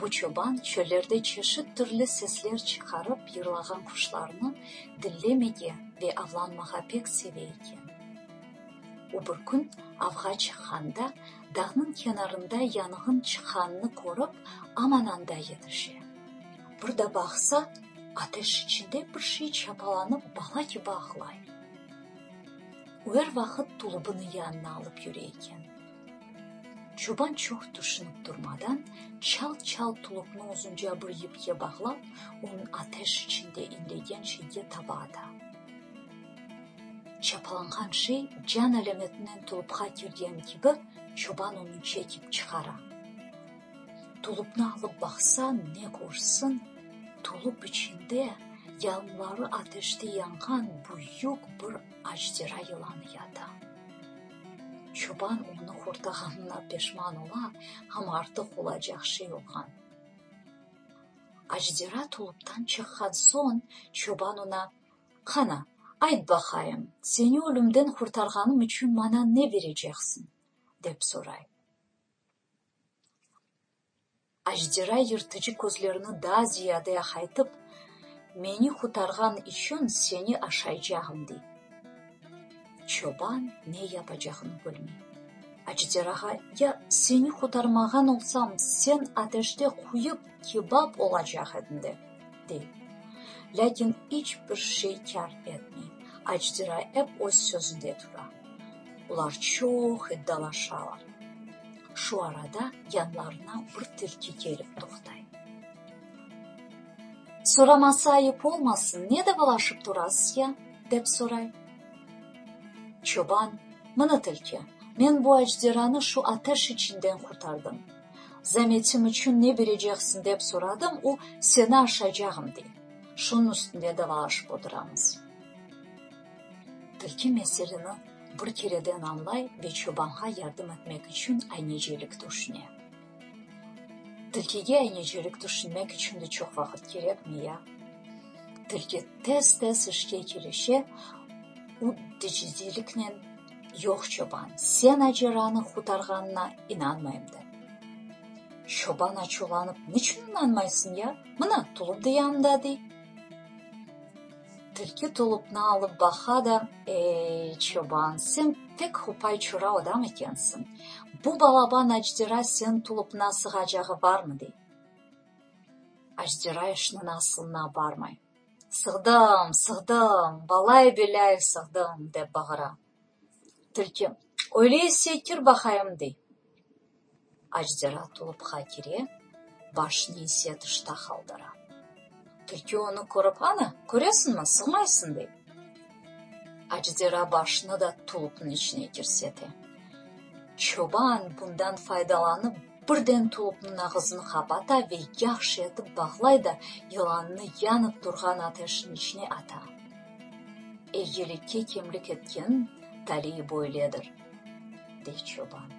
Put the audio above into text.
Bu çoban çöllerde çeşit türlü sesler çıqarıp yırlağan quşlarnı dinlemege ve avlanmağa pek seve eken. O bir kün avğa çıqqanda dağnıñ kenarında yanğın çıqqanını körip, aman anda yetişe. Bir da baqsa, ateş içinde bir şey çapalanıp bala kibi ağlay. O er vaqıt tulubını yanına alıp yüre eken. Çoban çoq tüşünip turmadan, çalt-çalt tuluqnı uzunca bir yipke bağlap, onı ateş içinde inlegen şeyge taba ata. Çapalanğan şey can alametinden tulupqa kirgen kibi, çoban onı çekip çıqara. Tulupnı alıp baqsa, ne körsin, tulup içinde yalınları ateşte yanğan büyük bir ajdera yılanı yata. Çoban onı hurtağanına peşman ola, amma artıq olacaq şey yoqan. Acdera tuluptan çıqqan soñ, çoban ona, Qana, ayt baqayım, seni ölümden hurtarğanım içün maña ne bereceqsiñ? dep soray. Ajdera yırtıcı közlerini daa ziyade aqaytıp, Meni qurtarğan içün seni aşaycağım, dey. Çoban ne yapacağını bilmey. Ajderağa, Ya seni qurtarmağan olsam, sen ateşte quyıp, kebap olacaq ediñ, der. dey. Lâkin iç bir şey kâr etmey, Acdira ep öz sözünde tura. Olar çoq iddalaşalar. Şu arada yanlarına bir tilki kelip toqtay. Soramasa ayıp olmasın, ne davalaşıp turasız ya? dep soray. Çoban, Mına tilki, men bu Acdiranı şu ateş içinden qurtardım. Zametim içün ne bereceksiñ dep soradım, o, seni aşacağım, dey. Şunıñ üstünde davalaşıp oturamız. Tilki meseleni bir kereden añlay ve çobanğa yardım etmek içün aynecelik tüşüne. Tilkige aynecelik tüşünmek içün de çoq vaqıt kerekmi ya? Tilki tez-tez işke kirişe, u titizliknen. Yoq, çoban, sen Aceranı qurtarğanına inanmayım, dedi. Çoban açuvlanıp, Niçün inanmaysıñ ya? Mına, tulupnı da yanında, dey. Tilki tulupnı alıp baqa da, Ey, çoban, sen pek hupay-çura adam ekensiñ, bu balaban Ajdera señ tulupnıña sığacağı barmı? dey. Ajdera işniñ asılına barmay. Sığdım, sığdım, balay-belây sığdım, dep bağıra. Tilki, Öyleyse kir baqayım, dey. Acdera tulupqa kire, başını ise tışta qaldıra. Tilki onı körip, Ana, köresiñmi, sığmaysıñ, dey. Acdera başını da tulupnıñ içine kirsete. Çoban bundan faydalanıp, birden tulupnıñ ağızını qapata ve yahşı etip bağlay da, yılannı yanıp turğan ateşniñ içine ata. Eyyilikke kemlik etken taliy böyledir, dey çoban.